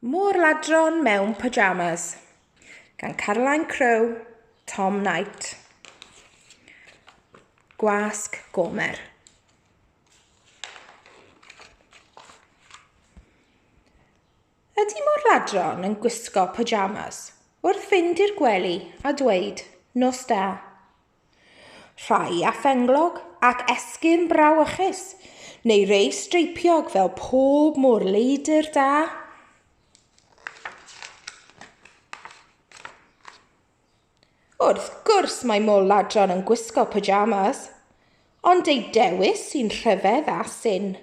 Môr Ladron mewn Pyjamas gan Caroline Crowe, Tom Knight. Gwasg Gomer. Ydy Môr Ladron yn gwisgo pyjamas wrth fynd i'r gwely a dweud nos da? Rhai â phenglog ac esgyrn brawychus, neu rei streipiog fel pob môr leidr da. Wrth gwrs mae mol ladron yn gwisgo pyjamas, ond eu dewis sy'n rhyfedd a syn.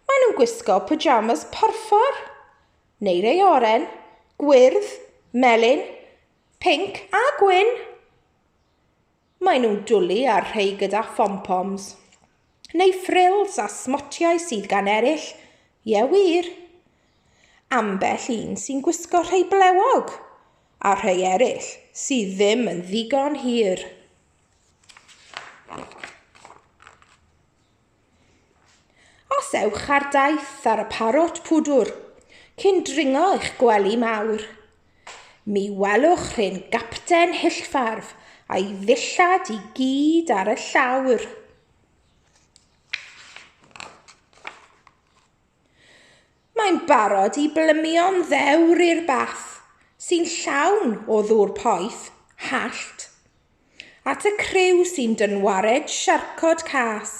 Mae nhw'n gwisgo pyjamas porffor, neu rei oren, gwyrdd, melyn, Pinc a gwyn! Maen nhw'n dwlu ar rhai gyda phom-poms. Neu ffrils a smotiau sydd gan eraill. Ie wir. Ambell un sy'n gwisgo rhai blewog, a rhai eraill sydd ddim yn ddigon hir. Os ewch ar daith ar y Parrot Pwdwr cyn dringo eich gwely mawr, mi welwch rhên gapten hyllfarf a'i ddillad i gyd ar y llawr. Mae'n barod i blymio'n ddewr i'r bath, sy'n llawn o ddŵr poeth, hallt. At y criw sy'n dynwared siarcod cas,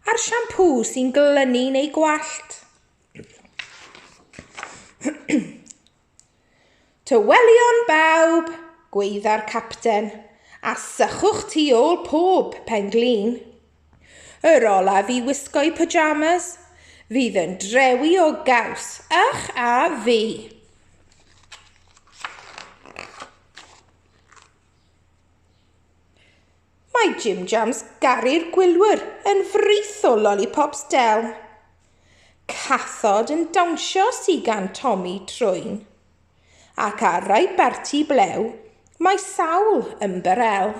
a'r siampŵ sy'n glynu neu gwallt. Tywelion bawb! gwaedda'r capten, a sychwch tu ôl pob pen-glin. Yr olaf i wisgo'u pyjamas fydd yn drewi o gaws, ych a fi. Mae Jim Jams Gary'r Gwylwyr yn frith o lollipops Del. Cathod yn dawnsio sy gan Tommy Trwyn. Ac ar rai barti blew mae sawl ymbarel.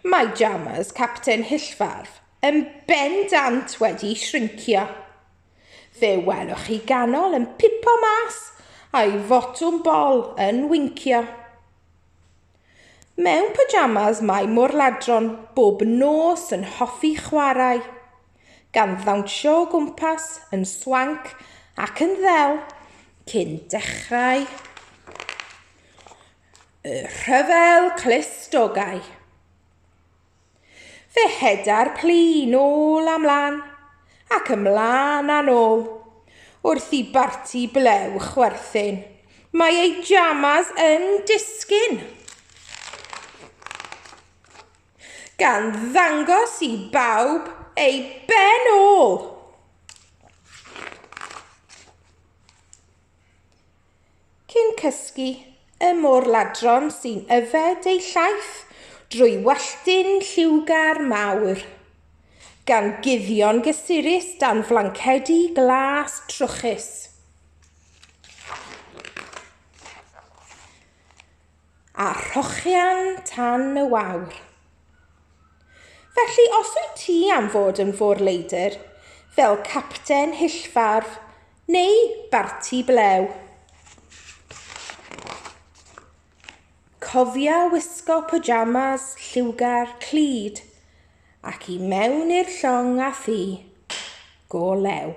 Mae Jammers, capten Hyllfarf, yn bendant wedi shrincio. Fe welwch chi ganol yn pipo mas a'i fotwm bol yn wincio. Mewn pyjamas mae Morladron bob nos yn hoffi chwarae, gan ddawnsio o gwmpas yn swanc ac yn ddel cyn dechrau Y rhyfel clustogau. Fe heda'r plu nôl a mlan, ac ymlan a nôl, wrth i barti blew chwerthin. Mae ei jamas yn disgyn. Gan ddangos i bawb ei ben ôl. Cyn cysgu, y môr-ladron sy'n yfed ei llaeth drwy walltyn lliwgar mawr. Gan guddio'n gysurus dan flancedi glas trwchus. A rhochian tan y wawr. Felly os wyt ti am fod yn fôr-leidr, fel capten hyllfarf, Neu barti blew. Cofia wisgo pyjamas lliwgar clyd ac i mewn i'r llong a thi. Go lew.